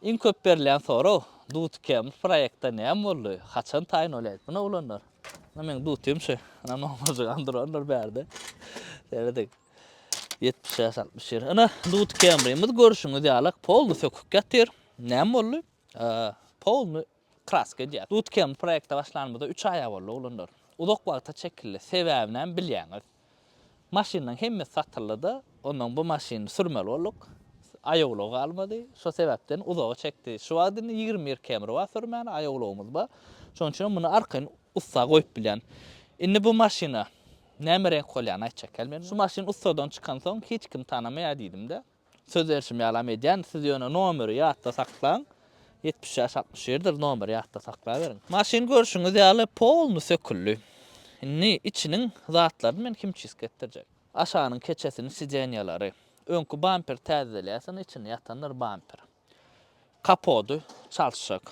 Iň köp berilýän sorag, Dutkem bu proýektde näme boldy, haçan taýyn bolýar? Muna oglanlar, muna meň dutim şu, ynha nomarjygam durandyr bärde. Serediň. Ýetmiş bäş, altmyş ýeri. Ynha dutkemrimiz görşüňiz ýalak polny sökük ýatyr. Näme boldy? Polny Kraska edýär. Dutkem proýekte başlanymyza üç aýa boldy oglanlar. Uzak wagta çekildi. Sebäbinem bilýäňiz. Maşynlaň hemmesi satyldyda, ondan bu maşyny sürmeli bolduk. Aýawlag galmady. Şo sebäpden uzaga çekdi. Şu wagt indi ýigrimi bir km bar sürmäne, aýawlagymyz bar. Şonuň üçinem muny arkaýyn ussa goýup bilýän. Indi bu maşyna näme reňk bolýany aýtjak ýaly men. Şu maşyn ussadan çykansoň hiç kim tanamaýar diýdim-de. Söz berşim ýalam edýän, siz ýöne nomeri ýatda saklaň, ýetmiş bäş altmyş birdir nomeri ýatda saklaberiň. Maşyn görşüňiz ýaly polny söküldi. Indi içiniň zatlaryny men himçistki etdirjek. Aşagynyň keçesini sidenýalary. Öňki bamperi täzedelýäs indi içinde ýatandyr bamper. Kapody çalşjak.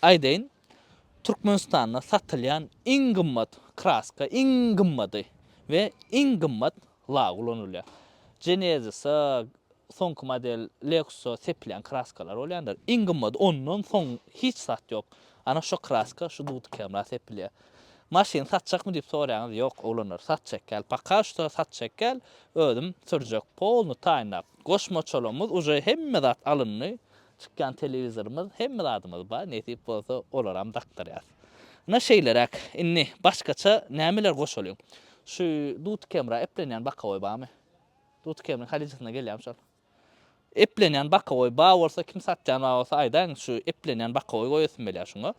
Aýdaýyn, Türkmenistanda satylýan iň gymmat kraska, iň gymmady we iň gymmat lak ulanylýar. Genesis-a, soňky model Lexus-a sepilýän kraskalar bolýandyr. Iň gymmady, ondan soň hiç zat ýok. Ana şo kraska, şu duty kemra sepilýär. Maşyny satjakmy diýip soraýaňyz, ýok, oglanlar, satjak däl. Poka şto satjak däl, özüm sürjek. Polny taýynlap, goşmaçalarymyz uje hemme zat alyndy. Çykýan telewizorymyz hemme zadymyz bar nesip bolsa olaram dakdyrýas. Ine şeýleräk indi başgaça nämeler goşalyň. Şu duty kemra eplenýän bakawoý barmy? Duty kemriň halyjasyna gelýärmi şol? Eplenýän bakawoý bar bolsa kim satýan bar bolsa aýdaýyň şu eplenýän bakawoý goýasym gelýär şuňa.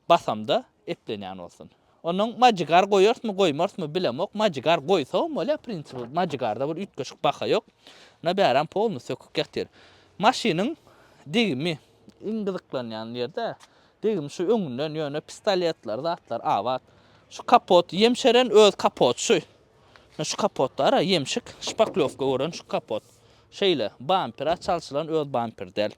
Basamda eplenýän bolsun. Onuň majigar goýarsmy goýmarsmy bilemok, majigar goýsagam bolýar prinsipi, majigarda bir üýtgeşik baha ýok. Ýa bärem polny sökük ýatyr. Maşynyň degimi iň gyzyklanýan ýerde degim şu öňünden ýöne pistoletler zatlar abat. Şu kapot ýemşeren öz kapot şu. Ýa şu kapotda ara ýemşik şpaklewka gören şu kapot. Şeýle bampera çalşylan öz bamper däl.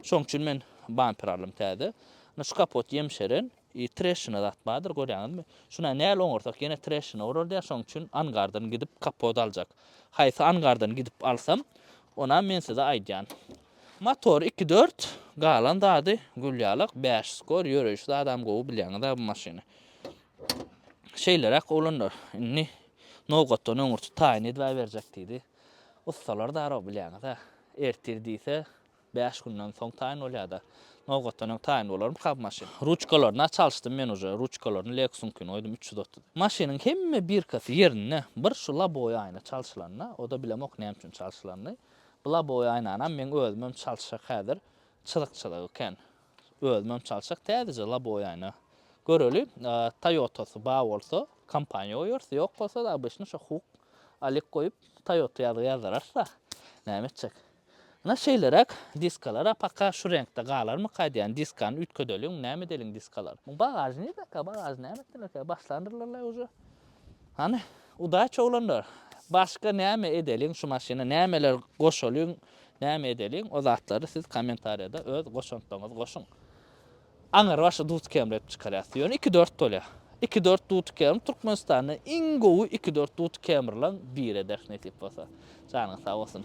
Şoň üçin men bamper aldym täze. Indi şu kapot ýemşeren, treşina zat bardyr, görýäňizmi? Şuna näl oňarsak ýene treşina urardýar, şoň üçin angardan gidip kapot aljak. Haýsy angardan gidip alsam, onam men size aýdýan. Motor iki dört, galan zady gül ýalak, bäş skor, ýöreýşi zadam gowy bilýäňiz-ä bu maşyny. Şeýleräk oglanlar, indi nobatdan öňürti taýyn edibäberjek diýdi. Ussalar darag bilýäňiz-ä. Ertir diýse, bäş günden soň taýyn bolýa-da. Nobatdan öň taýyn bolarmyka bu maşyn? Ruçkalaryny-a çalyşdym men uje. Ruçkalaryny Lexus-yňkyny goýdum üç ýüz otuz. Maşynyň hemme birkasy ýerinde. Bir şu lobowy aýna çalşylanda, o-da bilemok näme üçin çalşylandy. Bu lobowy aýnanam meň özümem çalyşjak häzir. Çyzyk-çyzyk eken. Özümem çalşak täzeje loboýany göreli. Toyotasy bar bolsa kompaniýa goýarys, ýok bolsa obişni şo huk alik goýup toyota ýazgy ýazdyrarys-a. Näme etjek. Ynha şeýleräk diskalar-a paka şu reňkde galarmyka diýýän. Diskany üýtgedeliň, näme edeliň diskalary. Bagažnigaka, bagažy näme etdilerkä, başlandyrdylar-laý uje. Hany, udaç oglanlar, başga näme edeliň şu maşyna, nämeler goşalyň, näme edeliň, o zatlary siz kommentariýada öz goşantlaryňyzy goşuň. Aňyrbaşy duty kemredip çykarýas. Ýöne iki-dört bolýar. Iki-dört duty kemrip Türkmenistanda iň gowy iki-dört duty kemrileň biri ederis nesip bolsa. Janyňyz sag bolsun.